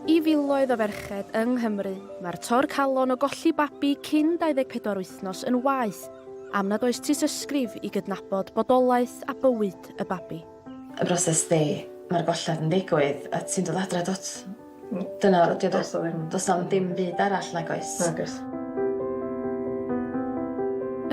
I filoedd o ferched yng Nghymru, mae'r tor calon o golli babi cyn 24 wythnos yn waeth am nad oes tystysgrif i gydnabod bodolaeth a bywyd y babi. y broses ydi ma'r golled yn digwydd a ti'n dod adre dwt. Hmm. Dyna o'dd dy- Do's 'na ddim. Do's na'm dim byd arall nag oes? Nag oes.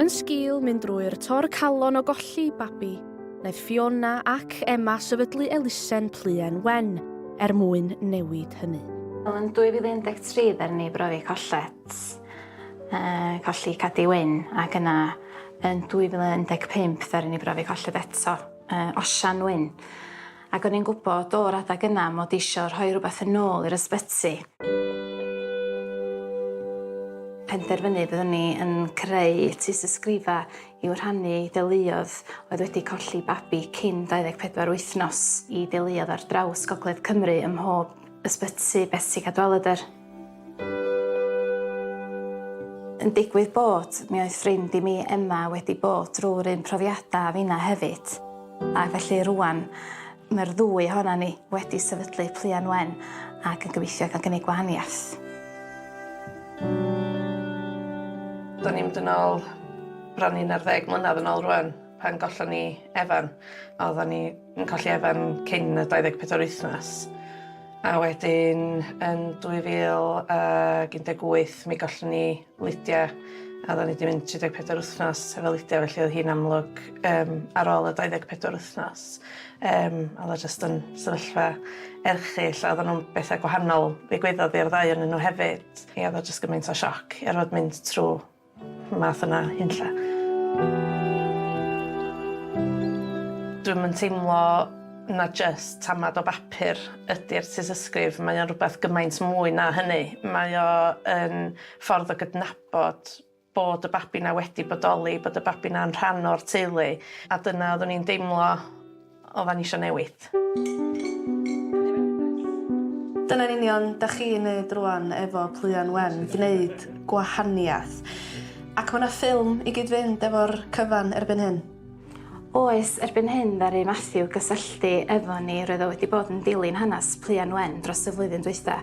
Yn sgil mynd drwy'r tor calon o golli babi, wnaeth Fiona ac Emma sefydlu elusen Pluen Wen er mwyn newid hynny. Wel, yn 2013 ddaru ni brofi colled, uh, colli Cadi Wyn, ac yna Yn 2015 ddaru ni brofi colled eto, yy Osian Wyn, ac o'n i'n gwbod o'r adag yna mod i isio rhoi rwbeth yn ôl i'r ysbyty. Penderfynu byddwn i yn creu tŷs ysgrifa i'w rhannu i deuluodd oedd wedi colli babi cyn 24 wythnos, i deuluodd ar draws gogledd Cymru ym mhob ysbyty, Betsi Cadwaladr. Yn digwydd bod, mi oedd ffrind i mi, Emma, wedi bod drwy'r un profiadau a finna hefyd. Ac felly rwan, mae'r ddwy ohona ni wedi sefydlu Pluan Wen ac yn gobeithio cael gwneud gwahaniaeth. Do'n i'n mynd yn ôl bron i 11 mlynedd yn ôl rwan, pan gollon ni Evan. Oeddan ni Yn colli Evan cyn y 24 o'r wythnos a wedyn yn 2018 mi gollon ni Lydia a oedden ni 'di mynd 34 wythnos efo Lydia felly oedd hi'n amlwg yym ar ôl y 24 wythnos yym oedd o jyst yn sefyllfa erchyll a oedden nhw'n betha gwahanol ddigwyddodd i'r ddau onyn nhw hefyd. Ia oedd o jyst gymaint o sioc i orfod mynd trw Y math yna hunlla. Dwi'm yn teimlo na jyst tamad o bapur ydi'r tystysgrif, mae o'n rhywbeth gymaint mwy na hynny. Mae o yn ffordd o gydnabod bod y babi 'na wedi bodoli, bod y babi 'na'n rhan o'r teulu, a dyna oeddwn i'n deimlo Oddan ni isio newid. Dyna'n union da chi'n neud rwan efo Pluan Wen, gneud gwahaniath. Ac ma' 'na ffilm i gyd-fynd efo'r cyfan erbyn hyn? Oes, erbyn hyn ddaru Matthew gysylltu efo ni, roedd o wedi bod yn dilyn hanes Pluan Wen dros y flwyddyn dwytha,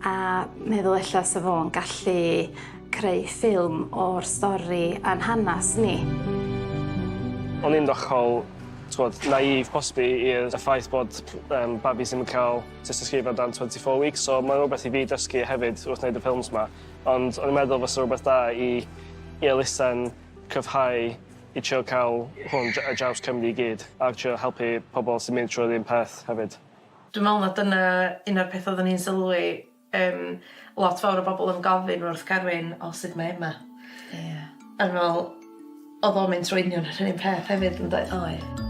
a meddwl ella sa fo'n gallu creu ffilm o'r stori a'n hanes ni. O'n i'n ddychol t'wod, naive posbi i'r y ffaith bod yym babis ddim yn ca'l tystysgrifau o dan twenty four weeks so mae'n rhywbeth i fi dysgu hefyd wrth wneud y ffilms 'ma ond o'n i'n meddwl fysa rhywbeth da i i elusen cryfhau i trio ca'l hwn dr- ar draws Cymru i gyd a trio helpu pobl sy'n mynd trwy'r un peth hefyd. Dwi'n me'wl ma' dyna un o'r petha odden ni'n sylwi Yym lot fawr o bobl yn gofyn wrth Garwyn o sud mae Emma. Ie. Yn ol odd o'n mynd trwy union yr un peth hefyd yndoedd? Oedd.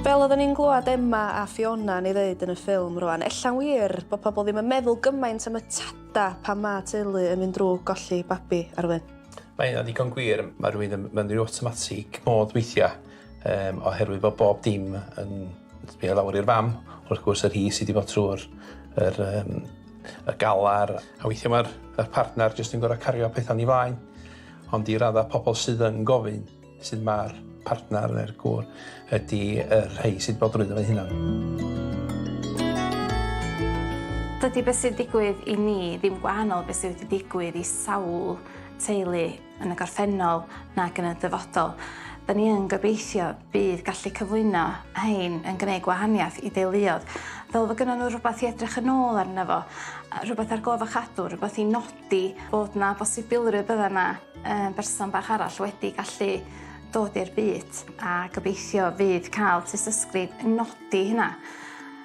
Fel odden ni'n glwad Emma a Fiona'n ei ddeud yn y ffilm rwan, ella'n wir bo' pobl ddim yn meddwl gymaint am y tada pan ma' teulu yn mynd drw golli babi, Arwyn. Mae hynna'n ddigon gwir, ma' rywun yn mynnu awtomatig mode weithia. Um, oherwydd bod bob dim yn sbio lawr i'r fam, wrth gwrs yr hi sydd wedi bod trwy'r er, um, y galar, a weithiau mae'r y partner jyst yn gorau cario pethau ni flaen, ond i raddau pobl sydd yn gofyn sydd mae'r partner neu'r gŵr ydy yr rhai sydd bod drwyddo fe hunan. Dydy beth sy'n digwydd i ni ddim gwahanol beth sydd wedi digwydd i sawl teulu yn y gorffennol nag yn y dyfodol. Da ni yn gobeithio bydd gallu cyflwyno hein yn gwneud gwahaniaeth i deuluodd, fel fod gynnyn nhw rhywbeth i edrych yn ôl arno fo, rhywbeth ar gof a chadw, rhywbeth i nodi bod na bosibilrwydd bydda na um, berson bach arall wedi gallu dod i'r byd a gobeithio fydd cael tystysgrif yn nodi hynna.